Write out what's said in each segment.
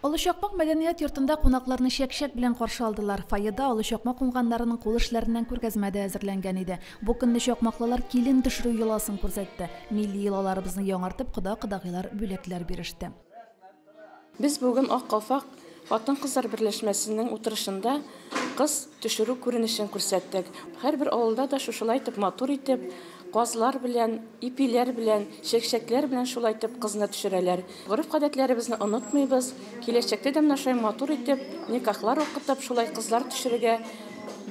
Олы Чакмак мәдәният йортында кунакларны чәк-чәк белән каршы алдылар. Фойеда олы чакмак уңганнарының кул эшләреннән күргәзмә дә әзерләнгән иде. Бу көнне чакмаклылар килен төшерү йоласын күрсәтте. Милли йолаларыбызны яңартып, кода-кодагыйлар бүләкләр биреште. Без бүген Ак калфак хатын-кызлар берләшмәсенең утырышында Кыз төшерү күренешен күрсәттек. Һәрбер авылда да шушылай итеп матур итеп, казлар белән, ипиләр белән, чәкчәкләр белән шулай итеп кызны төшерәләр. Гореф-гадәтләребезне онытмыйбыз. Киләчәктә дә менә шулай матур итеп, никахлар укытып, шулай кызлар төшерергә,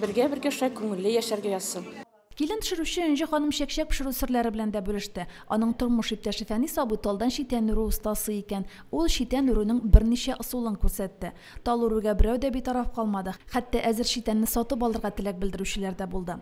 бергә-бергә шулай күңелле яшәргә язсын. Килен төшерүче Энҗе ханым чәкчәк пешерү серләре белән дә бүлеште. Аның тормыш иптәше Фәнис абый талдан читән үрү остасы икән. Ул читән үрүнең берничә ысулын күрсәтте. Тал үрүгә берәү дә битараф калмады, хәтта әзер читәнне сатып алырга теләк белдерүчеләр дә булды.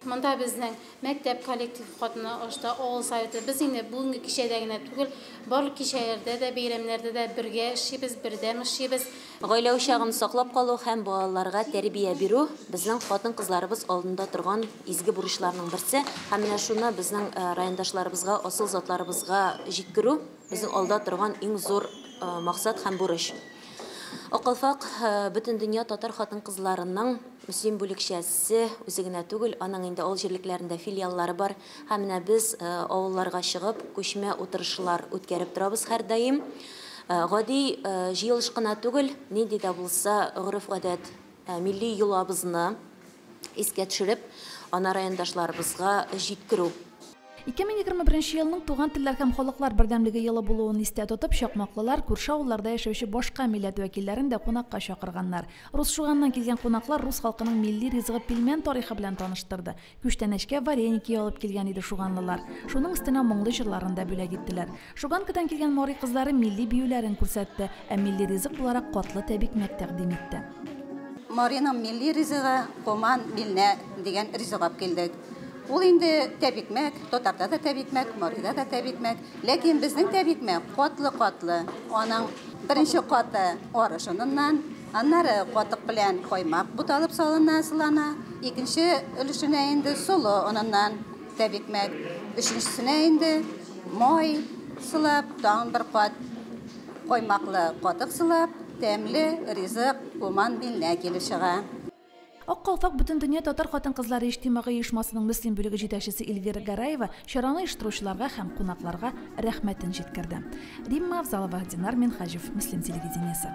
Монда безнең мәктәп коллективы катнашты, авыл Советы. Без инде бүгенге кичәдә генә түгел, барлык кичәләрдә дә, бәйрәмнәрдә дә бергә эшлибез, бердәм эшлибез. Гаилә учагын саклап калу һәм балаларга тәрбия бирү, безнең хатын-кызларыбыз алдында торган изге бурычларның берсе. Һәм менә шуны безнең райондашларыбызга, асыл затларыбызга җиткерү, безнең алда торган иң зур максат һәм бурыч. Акалфак Бөтендөнья татар хатын-кызларының мөслим бүлекчәсе үзе генә түгел, аның инде авыл җирлекләрендә филиаллары бар. Һәм менә без авылларга чыгып, күчмә утырышлар үткәреп торабыз һәрдаим. Гади җыелыш кына түгел, нинди дә булса гореф-гадәт, милли йолабызны искә төшереп, аны райондашларыбызга җиткерү. 2021 елның Туган телләр һәм халыклар бердәмлеге елы булуын истә тотып, чакмаклылар күрше авылларда яшәүче башка милләт вәкилләрен дә кунакка чакырганнар. Русшуганнан килгән кунаклар рус халкының милли ризыгы пилмән тарихы белән таныштырды. Күчтәнәчкә вареники алып килгән иде шуганлылар. Шуның өстенә моңлы җырларын да бүләк иттеләр. Шуганкадан килгән Марый кызлары милли биюләрен күрсәтте, ә милли ризык буларак катлы тәбикмәк тәкъдим итте. Марыйның милли ризыгы, коман, милнә дигән ризык ап килдек. Ул инде тәбикмәк, татарда да тәбикмәк, Марыйда да тәбикмәк. Ләкин безнең тәбикмәк катлы-катлы. Аның беренче каты арышыныннан. Аннары катык белән каймак буталып салына, сылана. Икенче өлешенә инде солы оныннан тәбикмәк, өченчесенә инде май сылап, тагын бер кат каймаклы катык сылап, тәмле ризык Пуман биленә килеп чыга. Ак калфак Бөтендөнья татар хатын-кызлары иҗтимагый оешмасының Мөслим бүлеге җитәкчесе Эльвира Гараева чараны оештыручыларга һәм кунакларга рәхмәтен җиткерде. Римма Авзалова, Динар Минһаҗев, Мөслим телевидениесе.